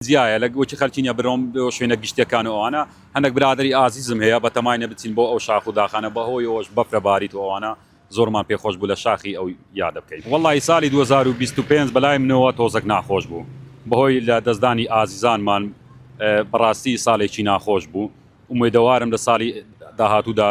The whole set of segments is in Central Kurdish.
جیایە لە وەکی خەلکینە برۆم بۆ شوێنە گشتیەکان و ئەوانە هەندەک برادەری ئازیزم هەیە بەتەماینە بچین بۆ ئەو شاخ و داخانە بەهۆی ئەوەش بەفرە باریت و ئەوانە زۆرمان پێ خۆش بوو لە شاخی ئەو یادە بکەین وەڵاهی سالی دوو هەزار و بیست و پێنج بەلای منەوە تۆزەک ناخۆش بوو بەهۆی لە دەستدانی ئازیزانمان بەڕاستی سالێکی ناخۆش بوو ئومێدەوارم لە سالی داهاتوودا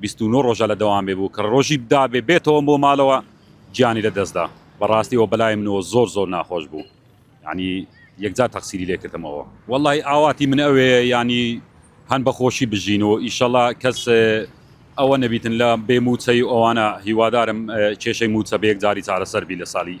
بیست و نۆ ڕۆژە لە دەوامێ بوو کە ڕۆژی بدابێ بێتەوەم بۆ مالەوە گیانی لە دەستدا بەڕاستی ئەوە بەلای منەوە زۆر زۆر ناخۆش بوو یانی یەکجار تەقسیری لێ کردمەوە وەڵاهی ئاواتی من ئەوەیە یانی هەن بە خۆشی بژین و ئیشەڵا کەس ئەوە نەبیتن لە بێ موچەی ئەوانە هیوادارم کێشەی موچە بە یەکجاری چارەسەر بی لە سالی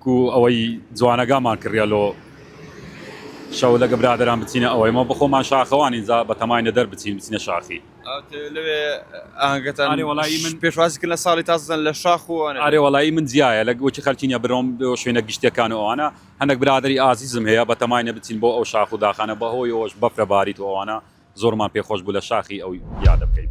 کو ئەوەی جوانەگامان کڕیە لۆ شەو لەگە برادەران بچینە ئەوەی مە بەخۆمان شاخەوان ئینجا بەتەمای نەدەر بچین بچینە شاخی ئاهەنگەکانی وڵی من پێشوازی کرد لە ساڵی تازەن لە شاخ و ئارێ وڵی من جیایە لە وەکی خەرکینە برۆم شوێنە گشتەکان و ئەوانە هەندێک برادری ئازیزم هەیە بەتەمای نەبچین بۆ ئەو شاخ و داخانە بەهۆی ئەوەش بەفرە باریت و ئەوانە زۆرمان پێخۆش بوو لە شاخی ئەو یادە بکەین.